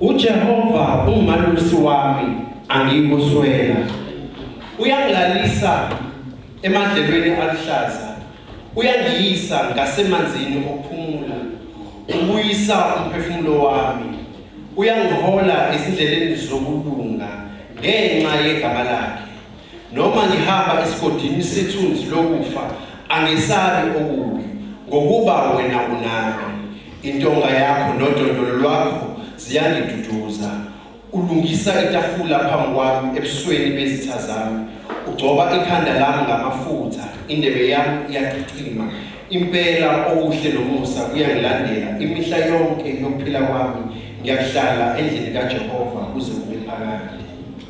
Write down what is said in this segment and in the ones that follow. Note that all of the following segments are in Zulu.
UJehova ungumalusi wami angikuswela uyangilalisa emadlelweni aluhlaza uyangiyisa ngasemanzini okuphumula ubuyisa umphefumulo wami uyangihola ezindleleni zokulunga ngenxa yegama lakhe Noma ngihamba esigodini sethunzi lokufa, angesabi okubi, ngokuba wena unami. Intonga yakho nodondolo lwakho ziyangiduduza. Ulungisa itafula phambi kwami ebusweni bezitha zami. Ugcoba ikhanda lami ngamafutha, indebe yami iyachichima. Impela okuhle nomusa kuyangilandela imihla yonke yokuphila kwami. Ngiyakuhlala endlini kaJehova kuze kube phakade.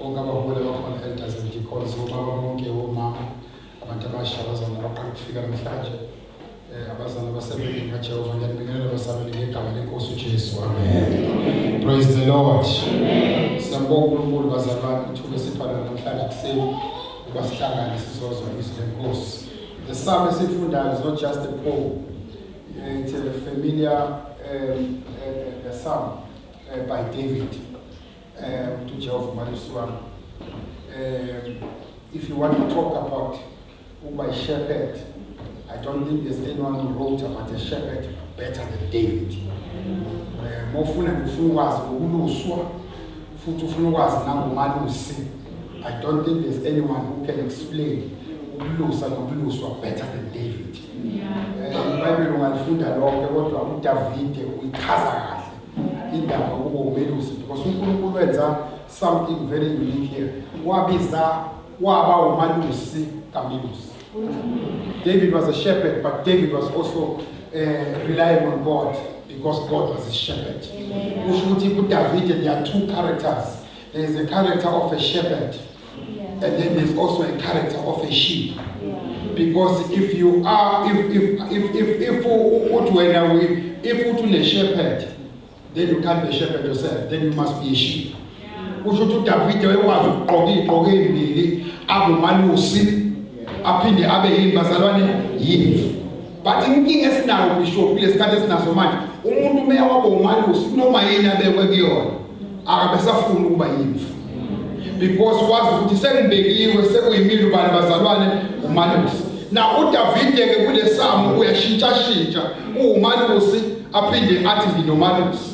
Bonke abaholi abakhona elders and deacons, obaba bonke, omama, abantu abasha, abazalwane abaqala ukufika namhlanje, eh, abazalwane abasebenzini kaJehova, ngiyanibingelela abasabeni ngegama lenkosi uJesu. Amen. Praise the Lord. Siyambonga uNkulunkulu bazalwane ithuba esiphala namhlanje kuseni ukuba sihlangane sizozwa izwi lenkosi. The psalm esifundayo is not just a poem. Eh, It's a familiar um, uh, uh, psalm uh, by David. Eh, ukuthi uJehova umalusi wami. Eh, if you want to talk about ukuba ishepherd, I don't think there's anyone who wrote about a shepherd better than David. Eh, mofuna ngifuna ukwazi ukuluswa futhi ufuna ukwazi nangomalusi. I don't think there's anyone who can explain ukulusa nokuluswa better than David. Eh, iBhayibheli ungalifunda lonke kodwa uDavide uyichaza kahle. indaba kubo umelusi because uNkulunkulu wenza something very unique here wabiza waba umalusi kamelusi David was a shepherd but David was also uh, relying on God because God was his shepherd kusho ukuthi kuDavid there are two characters there is a character of a shepherd Yeah. And then there's also a character of a sheep. Yeah. Because if you are, if, if, if, if, if, uthi wena we, if uthi une shepherd, then you can't be a shepherd yourself, then you must be a sheep. Kusho ukuthi uDavide wayekwazi ukugqoka igqoko ezimbili, avumalusi, aphinde abe yini bazalwane yimvu. but inkinga esinayo bishop kulesikhathi esinaso manje umuntu umeya wabo umalusi kunoma yini abekwe kuyona akabesafuni ukuba yimfu because wazi ukuthi sengibekiwe sekuyimile ubani bazalwane umalusi na udavide ke kulesamo uyashintshashintsha uwumalusi aphinde athi nginomalusi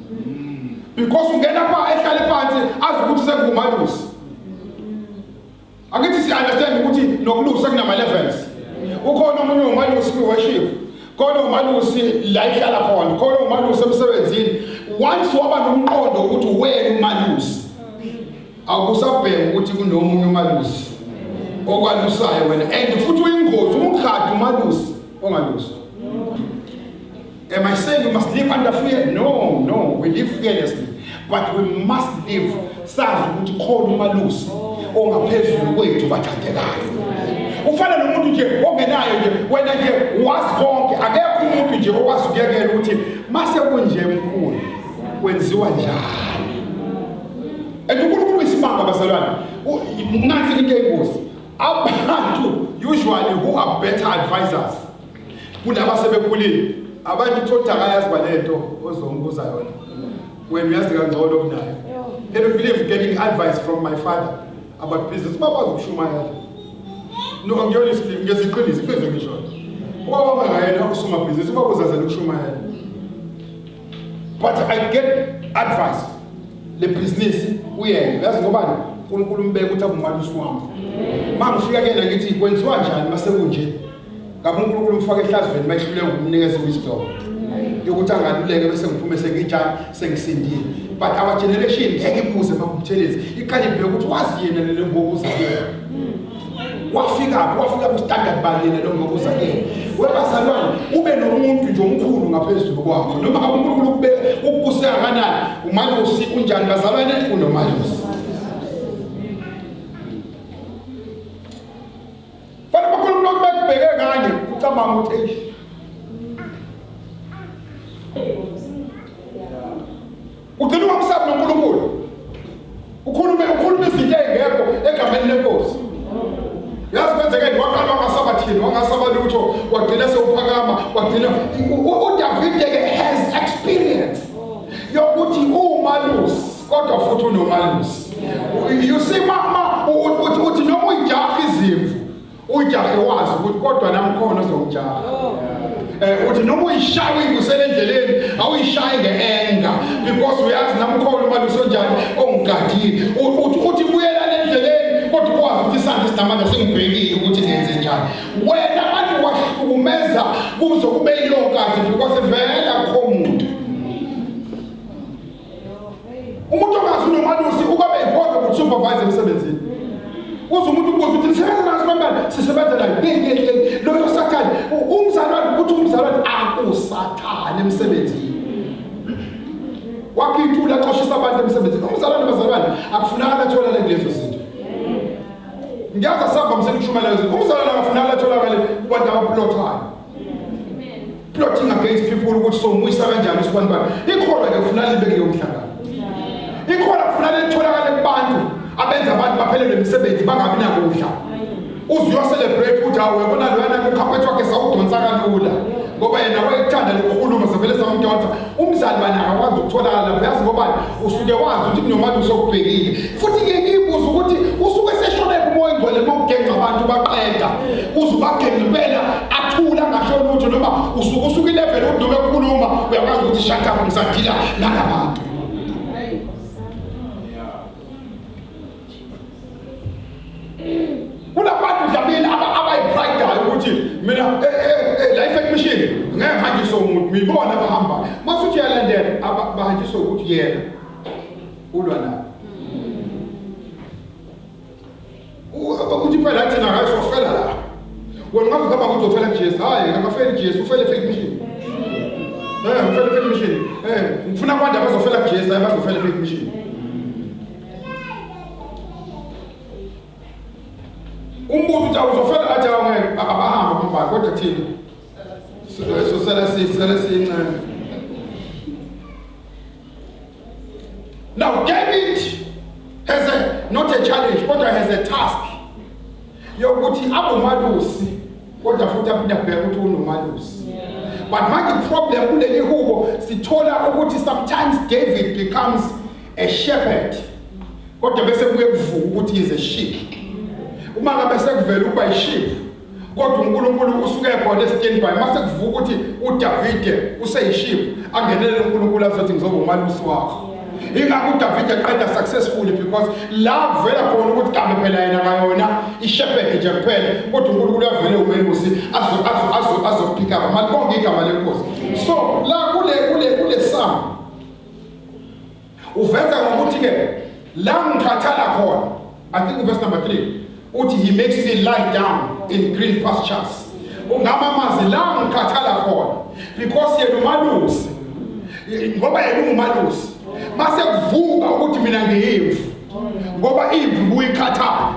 because ungena pha ehlale phansi azi ukuthi sengumalusi akithi si-understand ukuthi nokulusa kunama-levels ukhona omunye umalusi kwi-worship khona umalusi la ihlala khona khona umalusi emsebenzini once waba nomqondo ukuthi wena umalusi akusabheki ukuthi kunomunye umalusi okwalusayo wena and futhi uyingozi umkhadi umalusi ongaluswa Am I saying you must live under fear? No, no, we live fearlessly. But we must live sazi ukuthi khona umalusi ongaphezulu kwethu bathandekayo. Ufana nomuntu nje ongenayo nje wena nje wazi konke akekho umuntu nje okwazi ukuyekela ukuthi mase kunje mkhulu kwenziwa njani. And uNkulunkulu uyisimanga bazalwane. Nansi into engozi. Abantu usually who are better advisors kulaba asebekhulile abantu uthi othi akayazi balento ozombuza yona wena uyazi kangcono kunayo can you believe getting advice from my father about business bakwazi ukushumayela no ngiyona isilimu ngeziqiniso iqiniso ngisho ubaba mangayena usomabhizinisi ubaba uzazela ukushumayela but i get advice le business uyena uyazi ngobani uNkulunkulu umbeka ukuthi abumali usiwami mangifika kuyena ngithi kwenziwa njani masekunje Ngabe uNkulunkulu ufaka ehlazweni mayihluleka ukunikeza wisdom. Yokuthi angaluleke bese ngiphume sengijani sengisindile. But our generation ngeke ibuze makubuthelezi. Iqale ibheke ukuthi wazi yena lelo ngokuza kuye. Wafika wafika ku standard bani yena lo ngokuza kuye. Webazalwane ube nomuntu nje omkhulu ngaphezulu kwakho. Noma uNkulunkulu ukube ukuse kanani umalusi unjani bazalwane unomalusi. Fanele bakhona umuntu okubheke kanye ucabanga ukuthi eish. Ugcina ungamsabi noNkulunkulu. Ukhulume ukhulume izinto ezingekho egameni lenkosi. Yazi kwenzekeni waqala wangasaba thini wangasaba lutho wagcina sewuphakama wagcina uDavide ke has experience yokuthi uma lusi kodwa futhi unomalusi you see mama uthi uthi noma uyijaha izimvu uyijahe wazi ukuthi kodwa namkhona ozomjaha oh. eh uthi noma uyishaya uyibusele endleleni awuyishayi ngeenga because uyazi namkhona uma lusonjani ongigadile uthi uthi buyela endleleni kodwa kwazi ukuthi isandla sinamandla singibhekile ukuthi ngenze njani wena abantu wahlukumeza kuzo kube yilokho kathi because vele akho muntu umuntu ongazi unomalusi ukwabe ehodwa ngokusupervise emsebenzini uze umuntu ukubuza ukuthi nisebenza naso bantwana sisebenza nayo yeyeyey loyo sathane umzalwane ukuthi umzalwane akusathane emsebenzini wakhe ithula xoshisa abantu emsebenzini umzalwane bazalwane akufunakala atholane kulezo zinto ngiyazi asamba msekushumayela umzalwane akafunakala atholakale kubantu abaplothayo plotting against people ukuthi somuyisa kanjani usibani bani ikhona ke kufuneka libe kuleyo mhlangano ikhona kufuneka litholakale kubantu abenza abantu baphelelwe imisebenzi bangabi nakudla uze uyocelebrate ukuthi hawu uyabona loyana kukhaphethu wakhe sawudonsa kalula ngoba yena wayekuthanda lokukhuluma sevele samdonsa umzali bani akakwazi ukutholakala lapho yazi ngobani usuke wazi ukuthi kunomali usokubhekile futhi ke ngiyibuza ukuthi usuke seshonephi umoya ingcwele uma ugenca abantu baqeda uze ubagenca impela athula ngasho lutho noma usuke usuke ilevele udume kukhuluma uyakwazi ukuthi shakamu ngisadila nalabantu kunabantu dlamini abayipridayo ukuthi mina eh, eh, eh, life admission ngeke ngihanjiswe umuntu ngibona bahamba mase uthi uyalandela bahanjiswe ukuthi yena ulwa nabo ukuthi phela thina ngayo sofela la wena ngabe ngaba ukuthi ufela kuJesu hayi akafeli kuJesu ufele fake mission eh ufele fake mission eh ngifuna abantu abazofela kuJesu hayi bazofela fake mission umbuzo uthi awuzofela athi awungeke abahambe abambani kodwa thina sosele sisele siyincane now David has a not a challenge kodwa has a task yokuthi abomalusi kodwa futhi aphinde abheke ukuthi unomalusi but manje problem kuleli hubo sithola ukuthi sometimes David becomes a shepherd kodwa bese kuye kuvuka ukuthi is a sheep uma ngabe sekuvela ukuba yiship kodwa uNkulunkulu usuke ekhona eStandby mase kuvuka ukuthi uDavide useyiship angenele uNkulunkulu azothi ngizoba umalusi wakho ingakho uDavide eqeda successfully because la kuvela khona ukuthi kambe phela yena ngayona ishepherd nje kuphela kodwa uNkulunkulu uyavele umelusi azo azo azo azophika mali konke igama lenkosi so la kule kule kule sam uveza ngokuthi ke la ngikhathala khona i think uverse number 3 uthi he makes me lie down in green pastures ungama amazi la ngikhathala khona because yena umalusi ngoba yena ungumalusi mase kuvuka ukuthi mina ngiyimvu ngoba impi kuyikhathala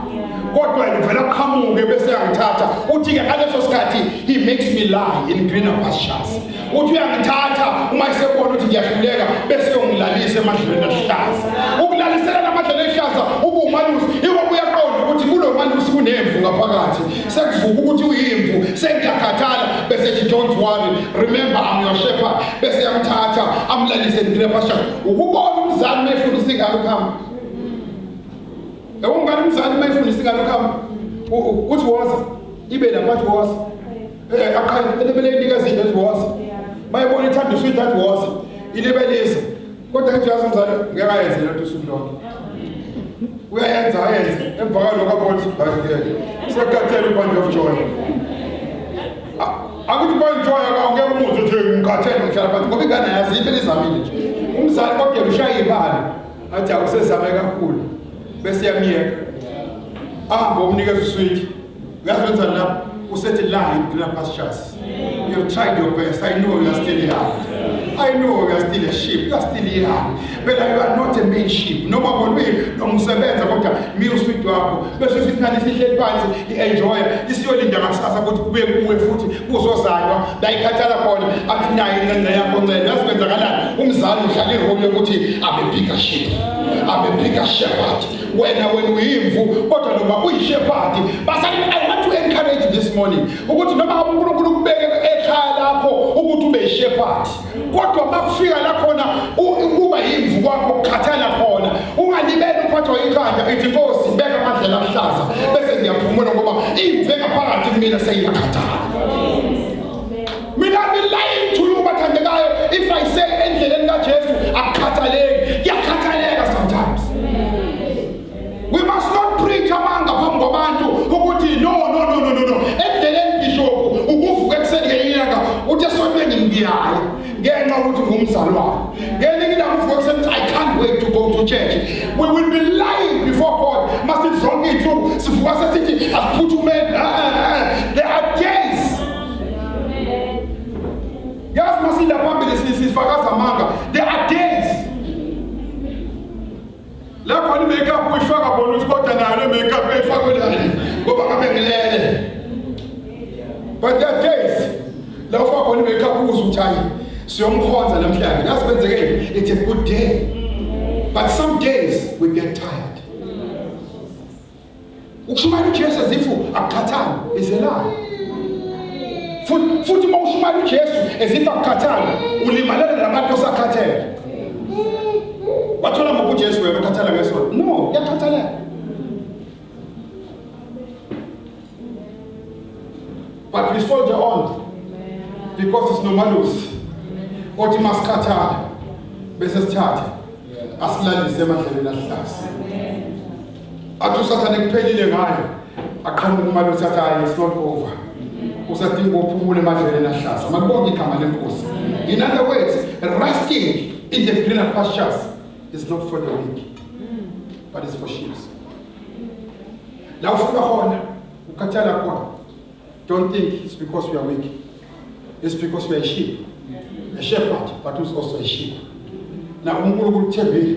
kodwa ngivela qhamuke bese yangithatha uthi ke ngaleso sikhathi he makes me lie in greener pastures uthi uyangithatha uma esebona ukuthi ngiyahluleka bese yongilalisa emadlelweni ahlaza ukulalisela namadlelo ehlaza ubumalusi iko kuyaqonda ukuthi kulo malusi kunemvu ngaphakathi sekuvuka ukuthi uyimvu sengiyakhathala bese ethi don't worry remember I'm your shepherd bese yamthatha amlalise in greener pastures ukubona umzali uma efundisa ingane ukuhamba yabo ngane umzali uma efundisa ingane ukuhamba uthi woza ibe lapho athi woza eh, aqhele elebele inikeza into ethi woza bayibona ithanda uswidi athi woza ilibelisa kodwa ethi uyazi umzali ngeke ayenze lento usuku lonke uyayenza ayenze emva kwalokho abona ukuthi bayikele sekukhathele ubandi of joy Akuthi kwanjoya ka ungeke umuzi uthi ngikhathele ngihlala phansi ngoba ingane yazi impela izamile nje. Umzali kodwa ushaya ibali. Athi awusezame kakhulu. Bese yamiyeka. Ahambe umnikeza uswidi. Uyazi wenza la usethi la green pastures. You have tried your best. I know you are still young. I know you are still a sheep. You are still young. phela you are not a mainship noma kolwini noma usebenza kodwa mi uswidi wakho bese usithi nani sihleli phansi i-enjoya isiyolinda ngakusasa ukuthi kube kuwe futhi kuzozalwa layikhathala khona athi naye incenga yakho ncela yazi kwenzakalani umzali uhlala iroli yokuthi abe bigger ship abe bigger shepherd wena wena uyimvu kodwa noma uyishepherd basali i want to encourage this morning ukuthi noma unkulunkulu kubeke ekhaya lakho ukuthi ube yishepherd kodwa uma kufika la khona ukuba yimvu kwakho kukhathala khona ungalibeli uphathwa ikhanda ithi nkosi beka amadlela ahlaza bese ngiyaphumula ngoba imvu engaphakathi kumina seyiyakhathala mina ngilaye ngithula ubathandekayo if i say endleleni kajesu akukhathaleki kuyakhathaleka sometimes We must not preach amanga phambi kwabantu ukuthi no no no no no no. Endleleni bishop ukuvuka ekuseni ngenyanga uthi esontweni ngiyaya ngenxa ukuthi ngumzalwane. Ngelinye ilanga uvuka ekuseni I can't wait to go to church. We will be lying before God. Masithi zonke insuku sivuka sesithi asiphuthume la khona i-makeup uyifaka khona ukuthi kodwa nayo le makeup eyifakwe lana ngoba ngabe ngilele but that days la ufaka khona i-makeup uze ukuthi hayi siyomkhonza namhlanje ngazi kwenzekeni it's a good day but some days we get tired ukushumayela uJesu ezifu akukhathali izelayo futhi futhi uma ushumayela uJesu ezifu akukhathali ulimalela nabantu osakhathele wathola ngoku uJesu wena ukhathala ngesonto no yakhathalela but we soldier on because it's nomalusi othi masikhathala bese sithathe asilalise emadleleni ahlasi athi usathane kuphelile ngayo aqhamuka imali othatha hayi it's not over usadinga ukuphumula emadleleni ahlaza makubonge igama lenkosi in other words resting in the greener pastures is not for the weak but it's for sheep la ufika khona ukhathala khona don't think it's because we are weak it's because we are sheep a shepherd but who's also a sheep na unkulunkulu uthembile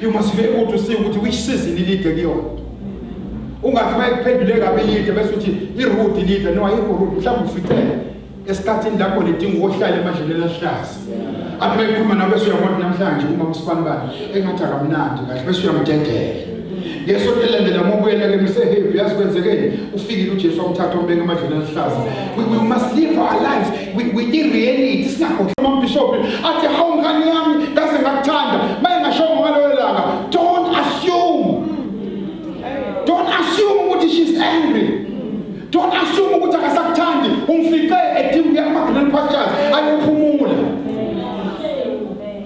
You must be able to see ukuthi which season ilide kuyona. Ungathi bayikuphendule kabi ilide bese uthi iroot ilide no ayikho root mhlawumbe uficele esikhathini lapho lidinga ukuhlala emadleni elahlaza. Athi bayikhuluma nawe bese uyabona namhlanje uma usibani bani engathi akamnandi kahle bese uyamdedela. ngesonto elilandela uma ubuyela ke misehevi yazi kwenzekeni ufikile ujesu wamthatha wambeka emadleni aluhlaza we must live our lives kwireality singagodla amabhishophi athi hawu ngane yami kaze ngakuthanda mayengashongo ngaloyo langa don't assume don't assume ukuthi she's angry don't assume ukuthi akasakuthandi umfice edinga ukuya kuma-green pastures ayophumula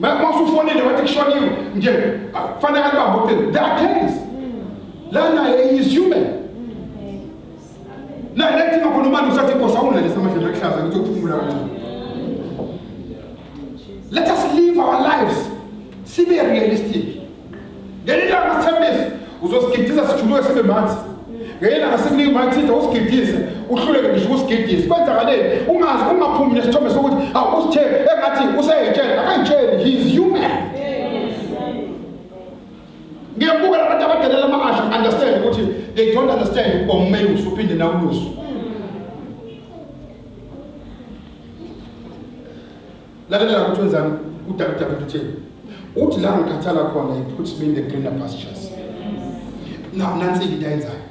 Mama usufonile wathi kushoniwe nje kufanele alibambe ucingo. There are cases. Lana he is human. La lethi ngakhona umanje usathi inkosi awunalisa amadlela akuhlaza ukuthi uphumula kancane. Let us live our lives. Sibe realistic. Ngelinye ilanga sithembise uzosigidisa sijuluke sibe manzi. Ngelinye ilanga sikunika umayithinta usigidise uhluleke ngisho ukusigidisa. Kwenzakaleni ungazi ungaphumi nesithombe sokuthi awusithe engathi useyitshela akayitsheli he is human. Ngiyabuka labantu abadelela ama-asha understand ukuthi they don't understand ukuba umeyi usuphinde nawulusu. Lalela la ukuthi wenzani uDavida uthini. Uthi la ngikhathala khona he puts me in the greener pastures. Na nansi into ayenzayo.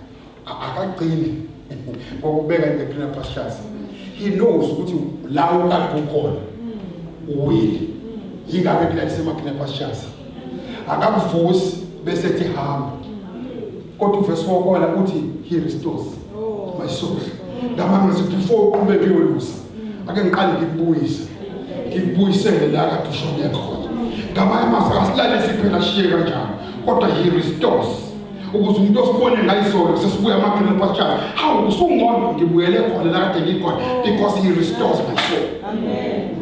Akagcini ngokubeka in the greener pastures. He knows ukuthi la ukade ukhona uwile. Yingakho ekulalisema greener pastures. Akakuvusi bese ethi hamba. kodwa uvesi wokola uthi he restores oh. my soul ngamanga ngithi before uqhube kuyolusa ake ngiqale ngikubuyise ngikubuyisele la kade ushone khona ngamanye amazwi asilalisi phela ashiye kanjalo kodwa he restores ukuze umuntu osibone ngayizolo sesibuya amaphela pastures hawu usungcono ngibuyele khona la kade ngikhona because he restores my soul amen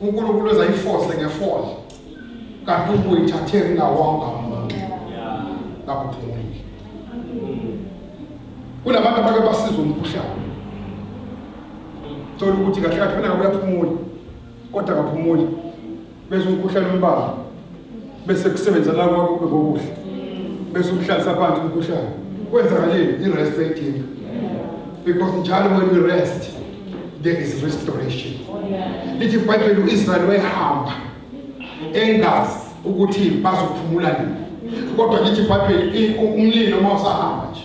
uNkulunkulu ezayifose ngefole kanti ubuyithathe ngawonga umuntu ngakuphumile kunabantu abake basiza umkhuhlane thola ukuthi kahle kahle kunakuyaphumula kodwa akaphumuli bese umkhuhlane umbamba bese kusebenza la kwakho kube kokuhle bese umhlalisa abantu umkhuhlane kwenzakalile i-rest ayidinga because njalo when we rest there is restoration lithi ibhayibheli u-israyeli wayehamba engazi ukuthi bazophumula nini kodwa lithi ibhayibheli umlilo uma usahamba nje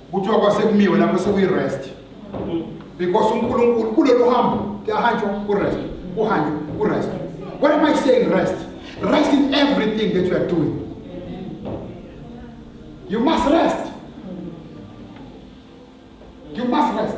kuthiwa kwasekumiwe lapho sekuyi-rest because unkulunkulu kulolu hambo kuyahanjwa ku-rest kuhanjwa ku-rest what am i saying rest rest in everything that you are doing you must rest you must rest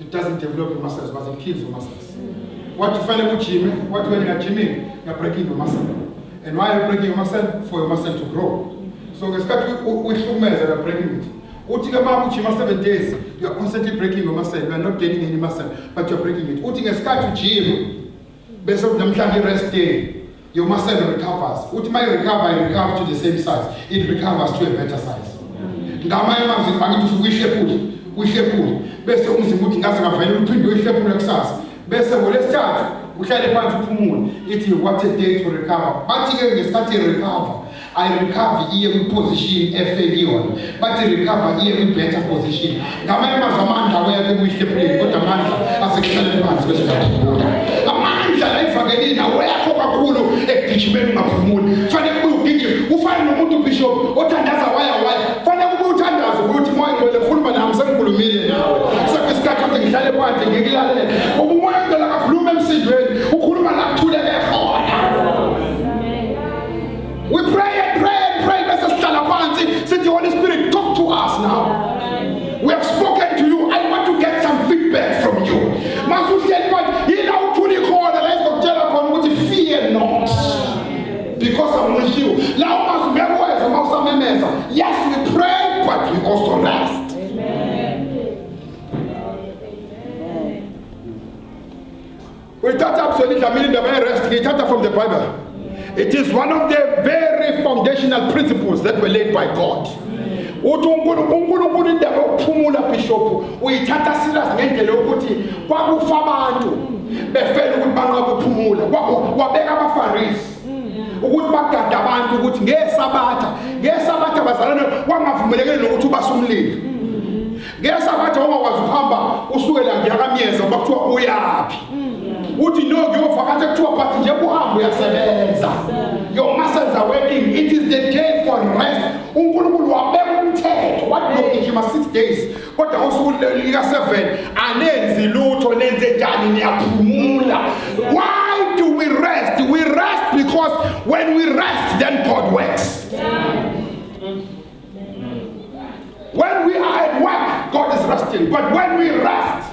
it doesn't develop your muscles but it kills your muscles wathi ufanele kujime wathi wena ngajimile ngabreaking your muscle and why are you breaking your muscle for your muscle to grow so ngesikhathi uyihlukumeza la breaking it uthi ke uma ujima 7 days you are constantly breaking your muscle you are not gaining any muscle but you are breaking it uthi ngesikhathi ujima bese kunamhlanje i-rest day yoma cell recovers uthi maye recover i recover to the same size it recovers to a better size ngamanye amazwi angithi usuke uyihlephule uyihlephule bese umzimba uthi ngaze ngavele uphinde uyihlephule kusasa bese ngolesithathu uhlale phansi uphumule ithi what a day to recover bathi-ke ngesikhathi recover ayirecover iye kwiposition efekiyona bathi recover iye kwi-better position ngamanye amazwi amandla aweyakhe kuyihlebuleni kodwa amandla asekuhlaleni phansi kwesingathibula amandla layifakelini aweyakho kakhulu ekugijimeni ungaphumuli fanele kubuye ugijime ufane nomuntu ubishop othandaza waya waya fanele kubuye uthandaze ukuthi moya ngcwele khuluma nami sengikhulumile nawe sekuyisikhathi ukuthi ngihlale phandle ngikulalele uba umoya ngcwele akakhuluma emsindweni We pray and pray and pray bese sihlala phansi sithi Holy Spirit talk to us now. We have spoken to you. I want to get some feedback from you. Masuhleli manje yila uthuli khona la izokutshela khona ukuthi fear not because I'm with you. La umazi ngeke weza uma usamemeza. Yes we pray but we also rest. uyithatha kuzona idlamini indaba yerest ngiyithatha from the bible it is one of the very foundational principles that were laid by god uthi unkulunkulu indaba yokuphumula bishophu uyithatha silas ngendlela yokuthi kwakufa abantu befela ukuthi banqaba ukuphumula wabeka abafarisi ukuthi bagade abantu ukuthi ngesabatha ngesabatha bazalane kwangavumelekile nokuthi ubasumlilo Ngesa bathi awakwazi ukuhamba usuke la ngiyakamyeza uma kuthiwa uyaphi. Uthi no ngiyovakasha kuthiwa but nje kuhamba uyasebenza. Your muscles are working. It is the day for rest. UNkulunkulu wabeka umthetho wathi nogijima 6 days kodwa usuku lika 7 anenzi lutho nenze njani niyaphumula. Why do we rest? We rest because when we rest then God works. Yeah. When we are at work, God is resting. But when we rest,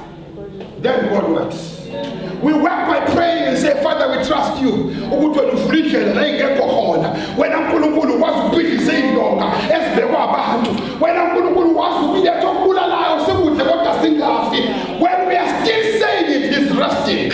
then God works. We work by praying and say, Father, we trust you. ukuthi wena uvula indlela la ingekho khona wena nkulunkulu ukwazi ukubhidlisa iy'ndonga ezibekwa abantu wena nkulunkulu ukwazi ukuletha okubulalayo sikudle kodwa singafi when we are still saying it is resting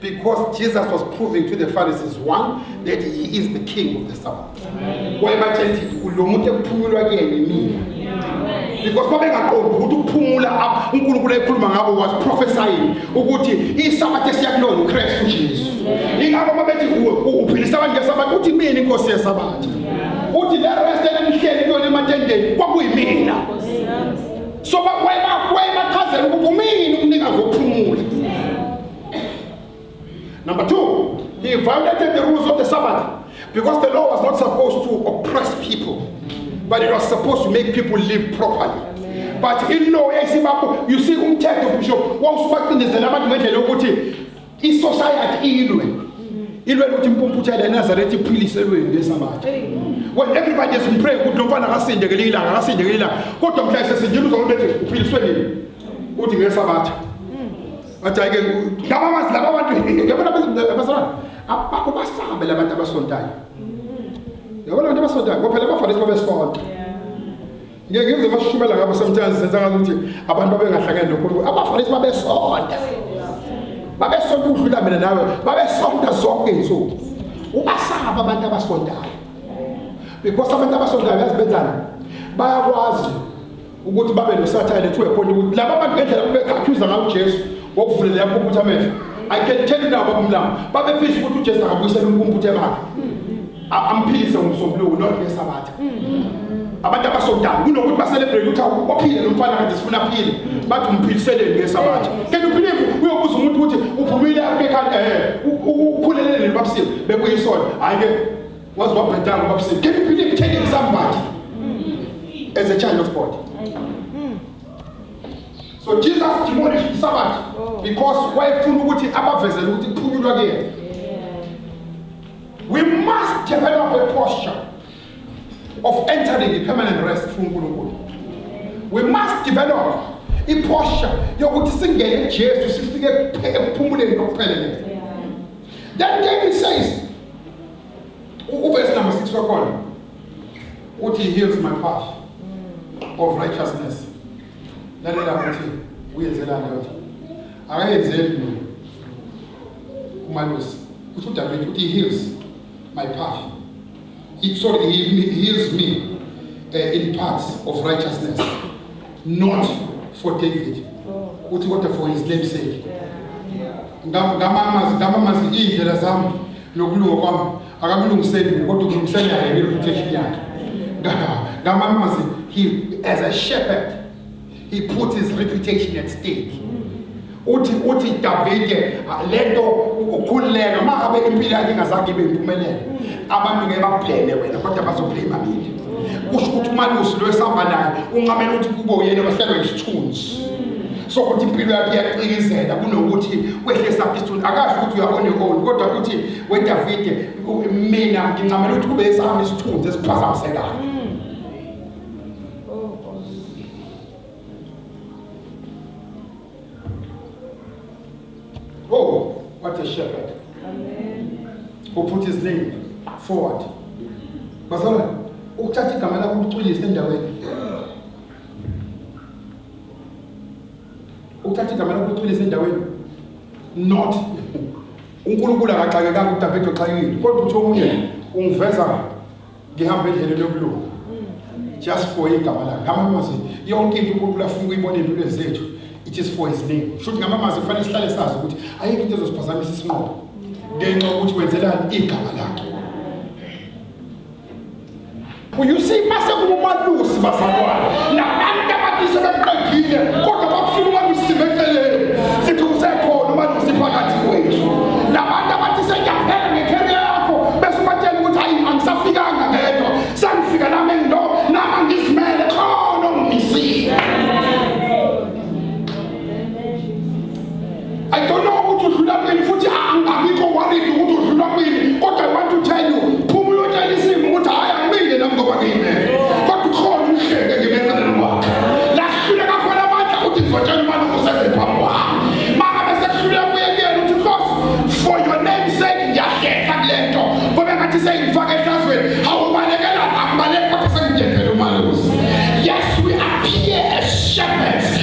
Because Jesus was proving to the Pharisees, one, that he is the king of the Sabbath. Wayebatshela ukuthi kulo muntu ekuphumulwa kuyena imina. Because babengaqondi ukuthi ukuphumula apha uNkulunkulu ekhuluma ngabo was prophesying ukuthi iSabbath esiyakulona uKristu Jesu. Ingakho babethi kuwe uphilisa abantu ngeSabbath uthi mina inkosi yeSabbath. Uthi le rest elimhleli kuyona ematendeni kwakuyimina. So bakwayibachazela ukuthi umini umnikazi wokuphumula. Number two, he violated the rules of the Sabbath because the law was not supposed to oppress people, but it was supposed to make people live properly. but ilow yayisibakho you see umthetho kusho wawusubacindezela abantu ngendlela yokuthi isociety ilwe ilwe ukuthi impumputhe le Nazareth iphilise lweni lesabatha when everybody is pray ukuthi lo mfana akasinde ngelinye ilanga akasinde ngelinye ilanga kodwa mhla sesindile uzokubethe uphiliswe nini uthi ngesabatha Wathi ayike laba bazi laba bantu yabona abazalwane abakubasabe labantu abasontayo. Yabona abantu abasontayo ngoba phela bafanele babesonta. Ngeke ngize bashukumela ngabo sometimes senza ngathi ukuthi abantu abengahlangene noNkulunkulu abafanele babesonta. Babesonta ukudlula mina nawe, babesonta zonke izinsuku. Ubasaba abantu abasontayo. Because abantu abasontayo yazibenzana bayakwazi ukuthi babe nosathane to a point ukuthi laba bantu ngendlela bebekhakhuyuza ngayo uJesu ngokuvulela yakho ukuthi amehlo I can tell you now babumlama babefisa ukuthi uJesu akabuyisele umkumbuthe bakhe amphilise ngomsombuluko not ngesabatha abantu abasodala kunokuthi baselebrate ukuthi waphile lo mfana kade sifuna aphile bathi umphiliseleni ngesabatha kanti uphilile uyobuza umuntu ukuthi uphumile akekhanda eh ukhulelele babusile bekuyisona hayi ke Waze wabhedanga ngoba usithi can you believe telling somebody as a child of God. So Jesus demolished the Sabbath oh. because wayefuna ukuthi abavezele ukuthi kuphunyulwa kuyena. We must develop a posture of entering the permanent rest through uNkulunkulu. We must develop iphosha yokuthi singene kuJesu sifike ekuphumuleni kokupheleleyo. Then David says Uvesi number 6 wakhona uthi he heals my path mm. of righteousness. Lalela ukuthi uyenzelani yodwa. Akayenzeli mina. Umalusi uthi uDavid uthi he heals my path. He, sorry, he, he heals me uh, in paths of righteousness. Not for David. Oh. Uthi kodwa for his name's sake. Yeah. Yeah. Ngamamazi ngamamazi indlela zami Nokulunga kwami akakulungiseli mina kodwa ukulungisela yena ngereputation yakhe. Ngamamazi he as a shepherd he puts his reputation at stake. Uthi uthi Davide lento ukhululeka uma abe impilo yakhe ingazange ibe impumelelo. Abantu ngeke bakubleme wena kodwa bazoblema mina. Kusho ukuthi umalusi lo esihamba naye uncamela ukuthi kube uyena ohlelwe isithunzi. so ukuthi impilo yakhe iyacikizela kunokuthi kwehle esabhisuni akasho ukuthi uya on your own kodwa ukuthi wedavide mina ngincamela ukuthi kube esami isithunzi esiphazamisekayo Oh, what a shepherd. Amen. Who put his name forward. Bazalwane, ukuthatha igama lakho ulicwilise endaweni. Uthatha igama lakho uqinise endaweni. Not uNkulunkulu akaxakekanga uDavid oxakekile kodwa uthi omunye ungiveza ngihamba endleleni yokulunga. Just for igama lakhe. Ngamamazi yonke into uNkulunkulu afuna ukuyibona empilweni zethu. It is for his name. Shuthi ngamamazi kufanele sihlale sazi ukuthi ayikho into ezosiphazamisa isinqobo. Ngenxa ukuthi wenzelani igama lakhe. uyusi base kumalusi bazalwane nabantu ababise beqedile kodwa bakufuna umalusi sibeceleni sithi usekhona umalusi phakathi kwethu labantu abathi sengiyaphela ngekheri yakho bese ubatshela ukuthi hayi angisafikanga ngedwa sengifika nami ngilo nama ngizimele khona ongimisile I don't know ukuthi udlula kwini futhi angikho worried ukuthi udlula kwini kodwa I want to tell you phuma uyotshela isimo ukuthi hayi angimile nami ngoba ngine kodwa ukhona umhleke ngemeceleni kwakhe lahlule kakhona amandla ukuthi ngizotshela umane kusese phambi kwami maka bese kuhlule kuye kuyena ukuthi boss for your name sake ngiyahleka kule nto ngoba ngathi seyingifaka ehlazweni awubalekela akubaleki kodwa sengijethele umalusi yes we appear as shepherds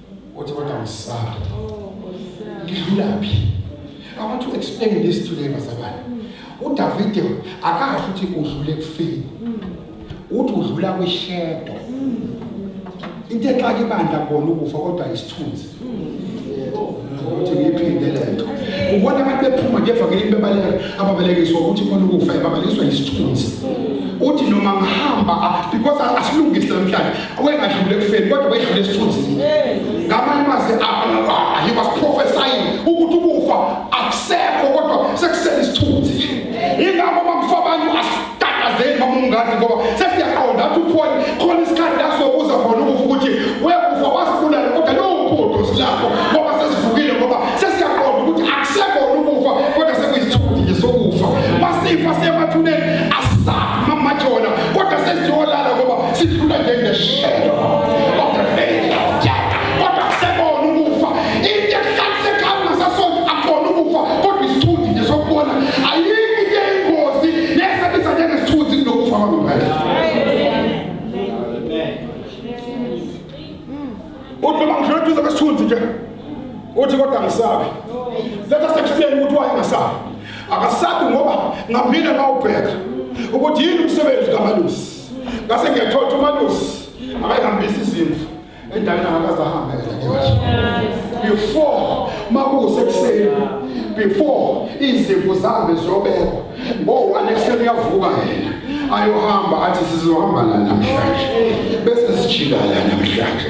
Uthi kodwa ngisaba. Ngidlulaphi? I want to explain this today bazalwane. UDavide akasho ukuthi udlule kufini. Uthi udlula kwishedo. Into exake ibandla kubona ukufa kodwa isithunzi. Ukuthi ngiphinde lento. Ubona abantu bephuma nje evangelini bebaleka ababalekiswa ukuthi khona ukufa ebabalekiswa isithunzi. Uthi noma ngihamba because asilungise namhlanje Owengadlula ekufeni kodwa wedlula esithunzini. Ngamanye amazwi ah, he was prophesying ukuthi ukufa akusekho kodwa sekusele isithunzi nje. Ingakho bamfa abantu asitatazeli bamungadi ngoba sesiyaqonda ukuthi uphone khona isikhathi la sokuza khona ukufa ukuthi wekufa wasibulala kodwa lowo bhudo silapho ngoba sesivukile ngoba sesiyaqonda ukuthi akusekho ukufa kodwa sekuyisithunzi nje sokufa. Masifa siyemathuneni sifuna nje ngeshedo of the faith of death kodwa kusebona ukufa into ehlaliseka ekhaya ngasasonto akubona ukufa kodwa isithunzi nje sokubona ayikho into eyingozi nesebisa njengesithunzi kunokufa kwangempela uthi noma ngidlula eduze kwesithunzi nje uthi kodwa ngisabi let us explain ukuthi waye ngasabi akasabi ngoba ngaphinde ngawubheka ukuthi yini umsebenzi kamalusi ngase ngiyathola ukuthi umalusi akayihambisi izimvu endaweni angakaze ahambe before makusekuseni before izimvu zihambe ziyobekwa ngo-one ekuseni uyavuka yena ayohamba athi sizohamba la namhlanje bese sijika la namhlanje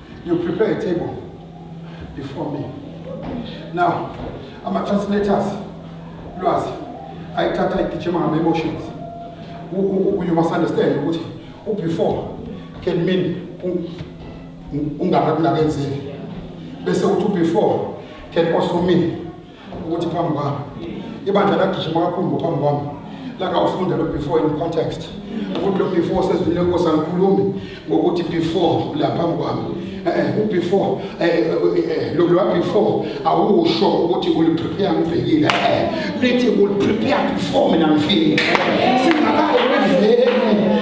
You prepare a table before me. Now, ama-translators, lwazi, ayithatha igijima ngama-emotions. U- u- u- You must understand ukuthi u-before can mean u- u- ungakakunakenzeli. Bese uthi u-before can also mean ukuthi phambi kwami ibandla lagijima kakhulu ngophambi kwami langawufunda lo before in context ukuthi lo before sezwile nkosi angikhulumi ngokuthi before la phambi kwami eh, ubefore eh, eh, lokhu before awusho ukuthi uliprepare ngibhekile lithi uliprepare before mina ngifike singakayi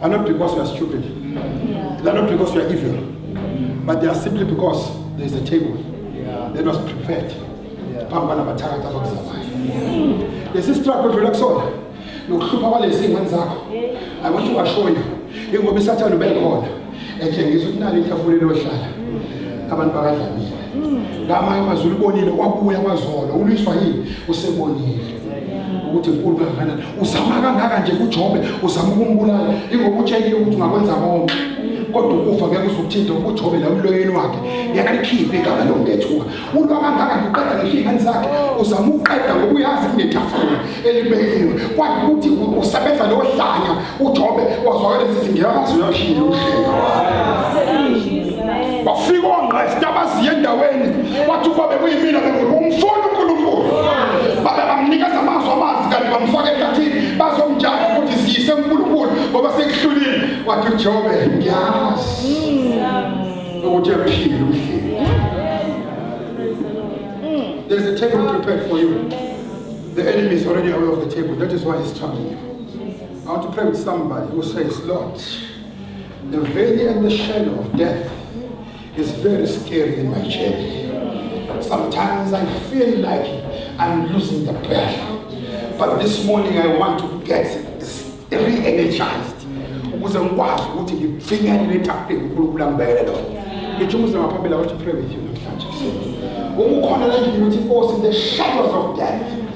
are not because you are stupid. Yeah. They are not because you are evil. Mm. But they are simply because there is a table yeah. that was prepared. phambi kwanabathakathi abakuzamayo lesi struggle odlula kusona nokuhlupha kwalezi ingane zakho i want to assure you ingoba isathane ubekhona etshengisa ukuthi nali itafula elohlala abantu bakadlamile ngamanye amazulu ubonile kwabuya kwazolo ulwiswa yini usebonile ukuthi mkhulu kangakanani uzama kangaka nje kujobe uzama ukumbulala ingokutshekile ukuthi ungakwenza konke kodwa ukufa ngeke uzokuthinta ubujobe la umloyeni wakhe ngeke alikhiphe igama lomngethuka ulwa kangaka ngiqeda ngehlingane zakhe uzama ukuqeda ngokuyazi kunetafula elibekiwe kwathi ukuthi usebenza lohlanya uJobe wazwakala esithi ngiyamazi uyaphila uhlelo wafika ongqesta abaziye endaweni wathi ukuba bekuyimina bengumfuni uNkulunkulu babe bamnikeza amazwi amazi kanti bamfaka ekathini bazomjaji ukuthi siyise uNkulunkulu ngoba sekuhlulile wathi uJobe ngiyazi ukuthi uyaphila uhlelo There's a table prepared for you. The enemy is already aware of the table. That is why he's troubling you. I want to pray with somebody who says, Lord, the valley and the shadow of death is very scary in my journey. Sometimes I feel like I'm losing the battle. But this morning I want to get re-energized. ukuze ngikwazi ukuthi ngipfinyane letafuleni unkulunkulu angibekele lona ngithi umuzima phambili i want to pray with you namhlanje uma ukhona la ngithi inkosi the shadows of death